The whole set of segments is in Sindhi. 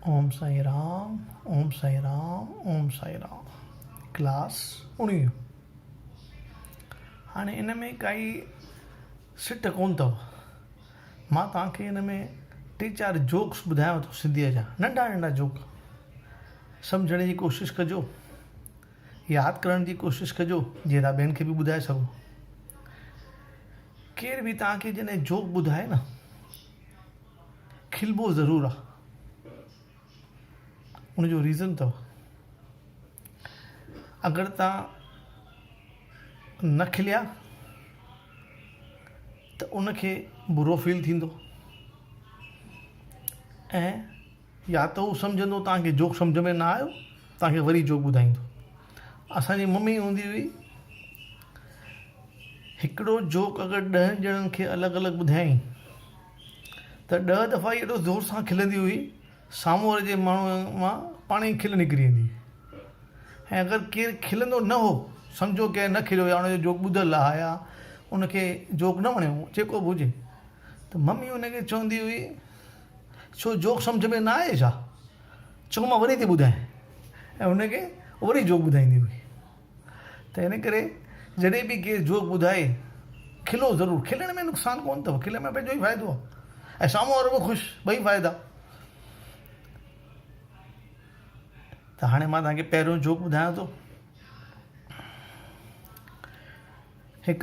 اوم سائين رام اوم سائين رام اوم سائين رام ڪلاس اڻويهون هاڻي ان ۾ ڪائي سٽ ڪون اٿو مان توهان کي ان ۾ ٽي چار جوڪس ٻڌايان ٿو سنڌيء جا ننڍا ننڍا جوڪ سمجهڻ جي ڪوشش ڪجو ياد ڪرڻ جي ڪوشش ڪجو جيئن تان ٻين کي به ٻڌائي سگهو ڪير به توهان کي جڏهن جوڪ ٻڌائي نه کلبو ضرور آ ان جو ريزن تھ اگر تان نھ کليا تھ ان کي برو فيل ٿيندو ۽ يا تھ ھو سمجھندو تان کي جوڪ سمجھ ۾ نھ آيو تان کي وري جوڪ ٻڌائيندو اسان جي ممي ھوندي ھئي ھڪڙو جوڪ اگر ڏھن ڄڻن کي الڳ الڳ ٻڌايائين ته ڏهه دفعا ئي ايڏو زور سان کلندي هئي، سامهون واري جي ماڻهوء مان پاڻ ئي کل نڪري ايندي هئي ۽ اگر ڪير کلندو نه هو، سمجهو ڪنهن نه کليو يا ان جو جوڪ ٻڌل آهي يا ان کي جوڪ نه وڻيو، جيڪو به هجي، ته ممي ان کي چوندي هئي، ڇو جوڪ سمجهه ۾ نه آيئي ڇا؟ چؤ مان وري ٿي ٻڌائين ۽ ان کي وري جوڪ ٻڌائيندي هئي. ته ان ڪري جڏهن به ڪير جوڪ ٻڌائي کلو ضرور، کلڻ ۾ نقصان ڪونه اٿو، کلڻ ۾ پنهنجو ئي فائدو آهي ۽ سامهون وارو به خوش، ٻئي فائدا. ته هاڻي مان توهان کي پهريون جوڪ ٻڌايان ٿو. هڪ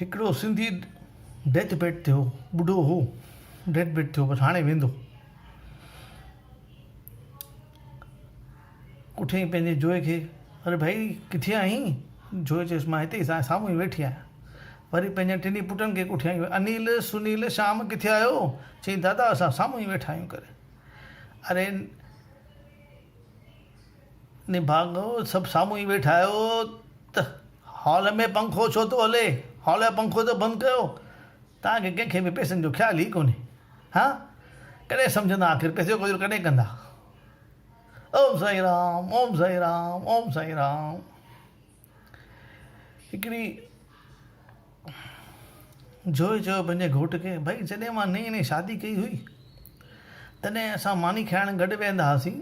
هڪڙو سنڌي ڊيٿ بيڊ ٿيو ٻڍو هو ڊيٿ بيڊ ٿيو بس هاڻي ويندو اٿيئي پنهنجي جوئي کي اري ڀائي ڪٿي آهين جوئي چيس مان هتي سان سامهون ئي ويٺي آهيان وري پنهنجن ٽنهي پٽن کي ڪوٺيائين انيل سنيل شام ڪٿي آهيو چيائين دادا اسان سامهون ئي ويٺا آهيون ڪري اري نڀاڳو سڀ سامهون ئي ويٺا آهيو ته هال ۾ پنکو ڇو ٿو هلي؟ هال جو پنکو ته بند ڪيو. توهان کي ڪنهن کي به پئسن جو خيال ئي ڪونهي. ها؟ ڪڏهن سمجهندا آخر پئسي جو گذر ڪڏهن ڪندا؟ اوم سائين رام اوم سائين رام اوم سائين رام. هڪڙي جويي چيو پنهنجي گهوٽ کي، ڀائي جڏهن مان نئين نئين شادي ڪئي هئي، تڏهن اسان ماني کائڻ گڏ ويهندا هئاسين،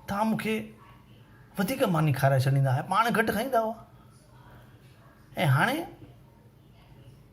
توهان مون کي وڌيڪ ماني کارائي ڇڏيندا هئا، پاڻ گهٽ کائيندا هئا ۽ هاڻي؟